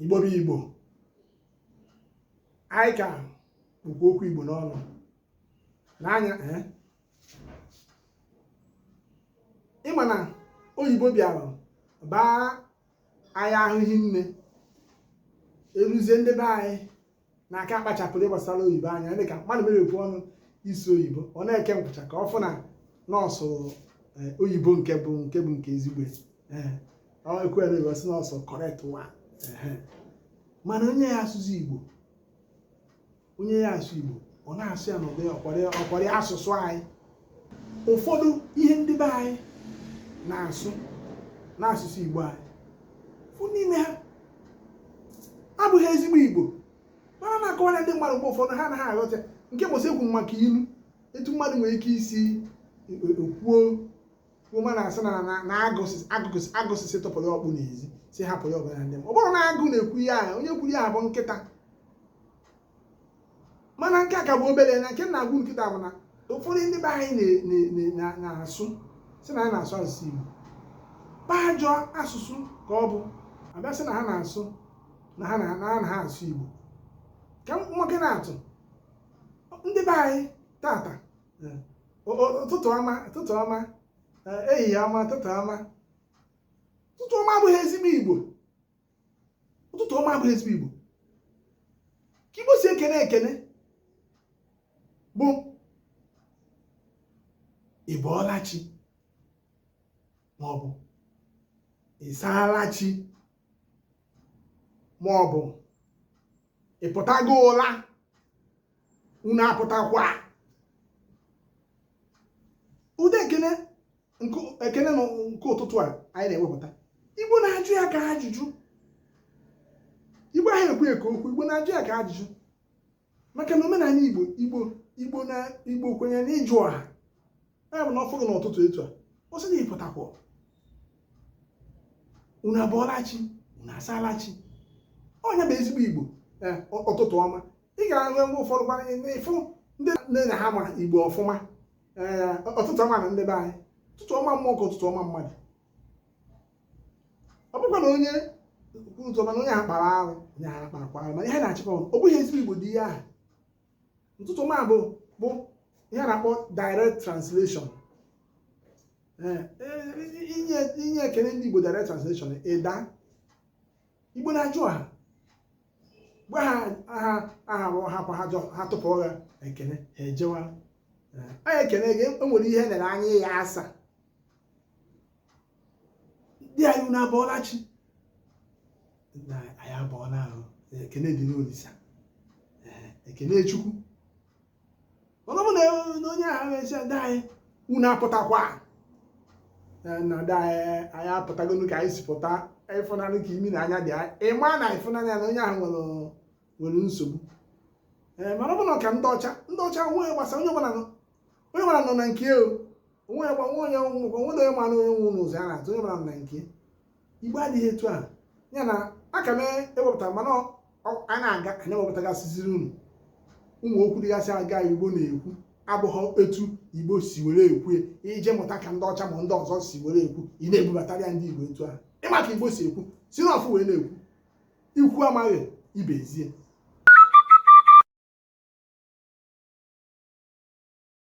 igbo bụ igbo anyị ka kpụkwa okwu igbo n'ọnụ n'anya eh? ị ma na oyibo bịara baa anyị ahụ hinne eruzie ndị be anyị na-aka akpachapụrụ gbasara oyibo anya dị ka mmadụ meghepụ ọnụ ịsụ oyibo ọ na-eke nkwụcha ka ọ fụ na na ọ sụ eh, oyibo nke bụ nke bụ nke ezigbo eh, ọ ekwere oyibo sị na ọ sụ correct one ehe. mana onye ya asụsụ igbo onye ya-asụ igbo ọ na-asụ ya n'ụdị ọkwara ọkwara asụsụ anyị ụfọdụ ihe ndị be anyị na-asụ n'asụsụ Igbo anyị fụ n'ime ha abụghị ezigbo Igbo mana na-akọwara ndị mmadụ mgbe ụfọdụ ha anaghị aghọta nke bụ eziokwu maka ilu etu mmadụ nwere ike isi e, e, e, kwuo kwuo ma na-asị na na agụ sị sị tụpụrụ ọkpụ n'ezi sị hapụ ya ọgụ ya na ndị mmụọ ọ bụrọ na agụ na-ekwu ihe ahụ onye kwuru ya bụ nkịta mana nke a ka bụ obere na nke na-agwụ ike kịta bụ na ụfọdụ ndị be anyị na-asụ sị na ha na-asụ asụsụ Igbo bụ ajọ asụsụ ka ọ bụ a bịa sị na ha na-asụ na ha na ha asụ Igbo ka nwoke na-atụ ndị be anyị tata ụtụtụ ọma ụtụtụ ọma ehihie ọma ụtụtụ ọma ụtụtụ ọma abụghị ezigbo Igbo ụtụtụ ọma abụghị ezigbo igbo ka igbo si ekene ekene bụ ị bọọla chi maọbụ ị saala chi maọbụ ị pụtago ụla unu apụtakwa ụdị ekene ekene na nke ụtụtụ a anyị na-ewepụta igbo na-ajụ ya ka ajụjụ igbo anaghị ekwu ya ka okwu igbo na-ajụ ya ka ajụjụ maka na omenala igbo igbo igbo na igbo kwenyere na ịjụ ọha ya bụ na ọ fụrụ n'ụtụtụ etu a ọ sị na ị pụtakwa unu abọọla chi unu asaala chi ọ ya bụ ezigbo igbo eh, ụtụtụ ọma ị ga-ahụ mgbe ụfọdụ gwara ịfụ ndị nne na ha ma igbo ọfụma ee ụtụtụ ọma nụ ndị be anyị ụtụtụ ọma mmụọ ka ụtụtụ ọma mmadụ ọ bụkwa na onye ụzọ mana onye a kpara arụ onye a kparakwa arụ mana ihe na-achịkọ ọnụ ọ bụghị ezigbo igbo dị ihe ahụ ụtụtụ ọma bụ bụ ihe a na-akpọ direct translation Ee, e- inye inye ekele ndị igbo direct translation ịda igbo na-ajụ ha mgbe ha aha aha rụọ ha gwa ha jọ ha tụpụrụ ha ekene ha ejewa anyị ekene gị o nwere ihe lere anya ya asa ndị anyị unu abọọla chi na anyị abọọla ahụ ekene dịrị olisa ekene chukwu mana ọ bụ na onye ahụ asị ndị anyị unu apụtakwa na ndị anyị anyị apụtagonu ka anyị si pụta ị fụ n'anya ka imi na anya dị ị ma na ị fụ n'anya na onye ahụ nwere nwere nsogbu ee mana ọ bụ n'aka ndị ọcha ndị ọcha onwe gbasa onye ọbụla onye ọbụla nọ na nke o onwe gbanwe onye nwụkwa o nwe onye mara onye nwụ n'ụzọ ya na-atụ onye ọbụla nọ na nke igbo adịghị etu a ya na aka m ewepụtara mana a na-aga anyị ewepụtagasịziri unu ụmụ okwu dịgasị aga igbo na-ekwu abụghị etu igbo si were ekwu i jee mụta ka ndị ọcha ma ndị ọzọ si were ekwu ị na-ebubatara ya ndị igbo etu ahụ ị ma ka igbo si ekwu si n'ọfụ wee na-ekwu ikwu amaghị ibe ezie